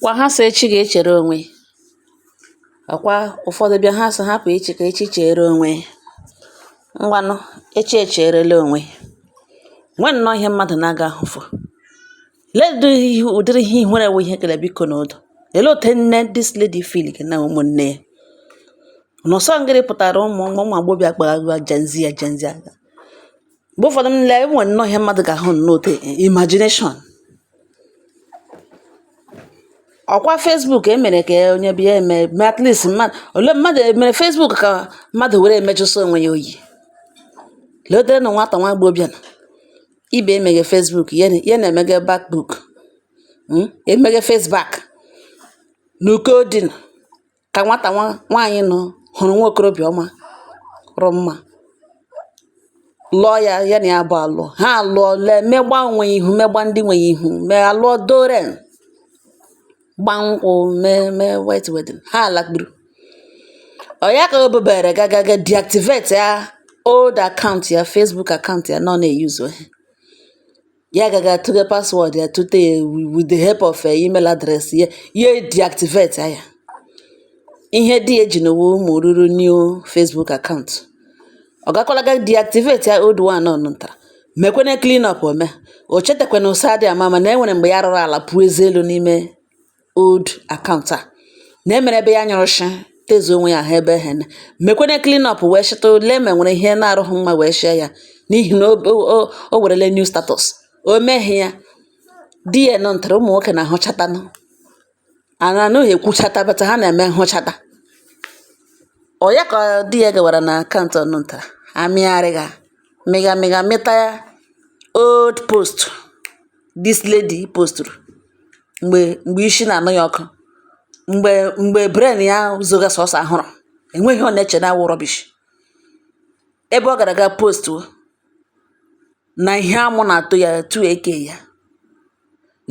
Kwa ha sị echi ga-echere onwe ya, ọ kwa ụfọdụ bịa ha sị hapụ echi ka echi cheere onwe ya. Ngwanụ, echi echeerela onwe ya. O nwere nnọọ ihe mmadụ na-agaghị ahụfu. Lee ụdịrị ihe ụdịrị ihe ihere wụ ihe kere biko na ụdọ. Olee otu nne this lady feel na ụmụnne ya? Unu sị ọ ngịrị pụtara ụmụ ụmụ agbọghọbịa kpara agwa Gen Z a Gen Z a. mgbe ụfọdụ m lee enwere nnọọ ihe mmadụ ga-ahụ nnọọ otu imagination ọkwa Facebook emere ka onye bịa eme mee at least mmadụ ole mmadụ emere Facebook ka mmadụ were emejụsị onwe ya oyi letere na nwata nwa agbọghọbịa na ibe emeghe Facebook ya na-emeghe backbook hmm? emeghe faceback na uko dị na ka nwata nwa nwaanyị nọ hụrụ nwa okorobịa marụ mma lụọ ya ya na ya bụ alụ ha alụọ lee megba onwe ya ihu megba ndị nwe ya ihu mee alụọ doren gbaa nkwụ mee mee white wedding ha alakpuru ọ ya ka o bubere gagaga deactivate ya old account ya Facebook account ya nọ na-eyuzu ya agaghị atụghe password ya tụte ya with the help of eh, email address ya ya deactivate ya ihe dị eji n'ụwa ụmụ ruru new Facebook account ọ gakwala ga deactivate ya old one nọ ntara mekwene clean up ome o chetakwana ụsa dị ama ama na enwere mgbe ya rụrụ ala pụọ eze elu n'ime old account a na enwere ebe ya nyụrụ shị tezu onwe ya ha ebe ehe na mekwene clean up wee shịta lee ma nwere ihe na-arụghị mma wee shịa ya n'ihi na o werele new status o meghị ya di ya nọ ntara ụmụ nwoke na-ahụchatanụ ana anaghị ekwuchata bata ha na-eme nhụchata ọ ya ka di ya gawara na account ọ nọ ntara amịgharịga mịga mịga mịta ya old post this lady postụrụ mgbe mgbe isi na-anụ ya ọkụ mgbe mgbe brain ya zoga sọsọ ahụrụ enweghị ihe ọ na-eche na awụ rubbish ebe ọ gara aga postu na ihe amụ na-atọ ya tu eke ya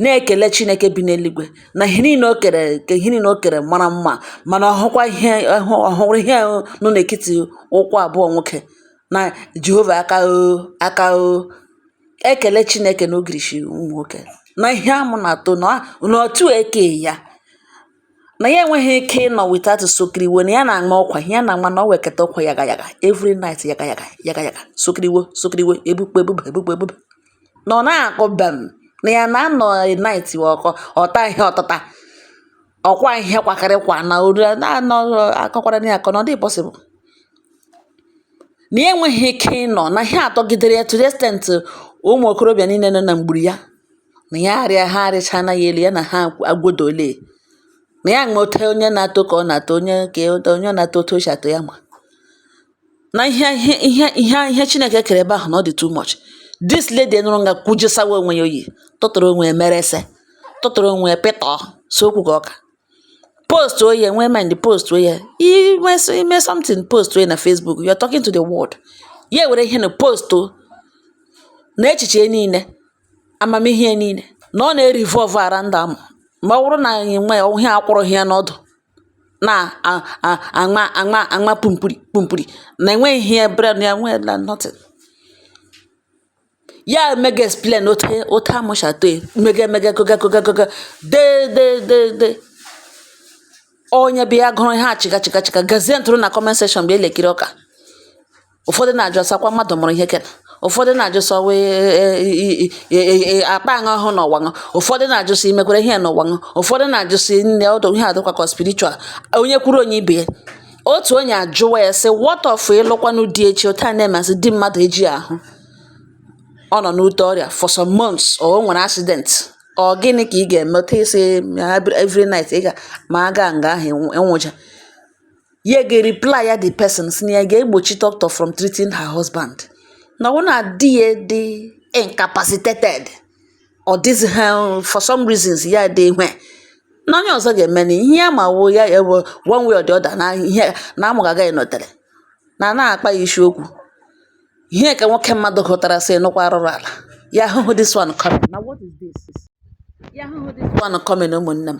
na-ekele Chineke bi n'eluigwe na ihe niile o kere ka ihe niile o kere mara mma mana ọ hụkwa ihe ọ hụrụ ihe nọ n'etiti ụkwụ abụọ nwoke na Jehova aka o aka o ekele Chineke na ogirishi ụmụ nwoke na ihe amụ na-atọ na otu eke ya na ya enweghị ike ịnọ without sokiriwo na ya na-aṅụ ọkwa ya na ama na ọ weketa ọkwa yaga yaga every night yaga yaga yaga yaga sokiriwo sokiriwo ebukpe ebuba ebukpe ebuba na ọ na-akọ bam na ya na-anọ night ọkọ ọ ta ihe ọtata ọkwa ihe kwakarị kwa na ori akọkwara na ya akọ na ọ dị possible na ya enweghị ike ịnọ na ihe atọgidere ya to the extent ụmụ okorobịa niile nọ na mgburu ya na ya arịa ha arịcha na ya elu ya na ha agwodole na ya nụta onye na-atọ ka ọ na-atọ onye ka onye na-atọ otu o si atọ ya ma na ihe chineke kere ebe ahụ na ọ dị too much this lady nọrọ nga kwujesawa onwe ya oyi tụtụrụ onwe ya mere ese tụtụrụ onwe ya pịtọ so okwu ka ọka postuo ya nwee mind postuo ya i mee something postuo ya na facebook you are talking to the world ya were ihe na post na echiche niile amamihe niile na ọ na-revolve around amụ ma ọ bụrụ na anyị nwe ihe akwụrụghị ya n'ọdụ na aṅa aṅa aṅa pumpuru pumpuru na enweghị ihe brain ya nwere na nothing ya emega explain otu otu amụ si atọ ya mega mega koga koga koga dee dee dee dee onye bịa gụrụ ihe a chịga chịga chịga gazie ntụrụ na comment section bụ elekiri ọka ụfọdụ na-ajụ sị ọ kwa mmadụ mụrụ ihe kena ụfọdụ na-ajụ sị ọ wụ akpa aṅụ ọhụụ na ọwaṅụ ụfọdụ na-ajụ sị imekwere ihe na ọwaṅụ ụfọdụ na-ajụ sị nne ọ dị ihe a dịkwa ka spiritual onye kwuru o nye ibe ya otu onye ajụwa ya sị what of ị lụkwanụ di echi otu a na-emasị di mmadụ eji ahụ ọ nọ n'ute ọrịa for some months or o nwere accident ọ gịnị ka ị ga-eme otu ị sị every night ị ga ma aga nga ahụ enwụcha ya ga-reply ya the person sị na ya ga-egbochi doctor from treating her husband na ọ na di ya dị incapacitated ọ dịzi ha for some reasons ya dị ihe na onye ọzọ ga-eme na ihe ya ma wo ya ewe one way or the other na ihe na amụ agaghị nọtere na na-akpa ya isi okwu ihe ka nwoke mmadụ hụtara sị nụkwa arụrụala ya ahụhụ this one coming now what is this ya ahụhụ this one coming ụmụnne m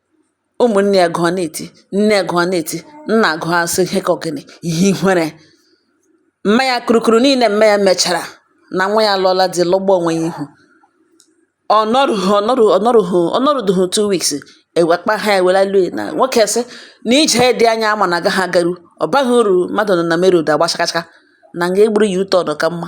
Ụmụnne ya gụọ na-eti, nne ya gụọ na-eti, nna gụọ asị ihe ka ọ gịnị ihe ihere. Mma ya kurukuru niile mma ya mechara na nwa ya alụọla di lụgba onwe ya ihu. Ọ nọrudughị two weeks ewe kpa ha ewela lue na nwoke sị na ije dị anya a ma na agaghị agaru ọ baghị uru mmadụ nọ na main road agba chakachaka na nga egburu ya u-turn ka mma.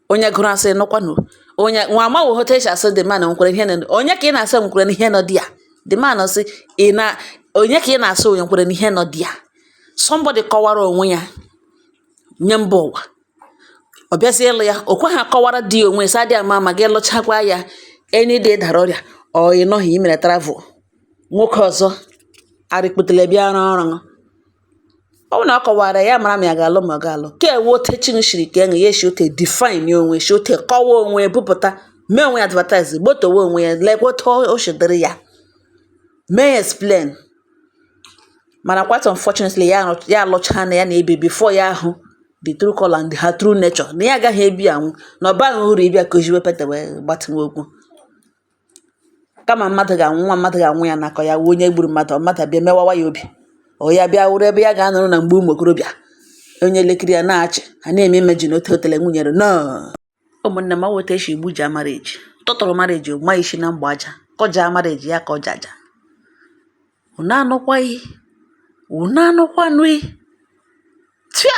onye gụrụ asị nụkwanụ onye nwa amaghị otu e si asị the man nkwere ihe nọ onye ka ị na-asị nkwere n'ihe nọ di ya the man sị ị na onye ka ị na-asị onye nkwere n'ihe nọ di ya somebody kọwara onwe ya nye mba ụwa ọ bịazie ịlụ ya o kweghị akọwara di ya onwe sị a dị ama ama gị lụchakwa ya any day ị dara ọrịa or ị nọghị i mere travel nwoke ọzọ arịkpụtele bịa rụọ ọrụ ọ bụrụ na ọ kọwara ya mara ma ya ga-alụ ma ọ ga-alụ ka ewe ote chi shiri ka enye ya eshi ote define onwe shi ote kọwa onwe bupụta mee onwe ya advertise gbotowe onwe ya lekwa otu o si dịrị ya mee explain mana quite unfortunately ya alụ- ya alụchaa na ya na-ebi before ya ahụ the true colour and her true nature na ya agaghị ebinwu na ọ baghị uru ịbịa kụziwe pete wee gbatịwa okwu kama mmadụ ga-anwụ nwa mmadụ ga-anwụ ya nakọ ya wụ onye gburu mmadụ ọ mmadụ bịa mewawa ya obi ọ ya bịa wụrụ ebe ya ga-anọrọ na mgbe ụmụ okorobịa onye elekere ya na-achị ha na-eme imeji na otu otele nwunyere no ụmụnne m aweta esi igbu ji amara eji tụtụrụ mara eji ma isi na mgba aja kọja amara eji ya kọja aja unu anụkwaghị unu anụkwanụghị tia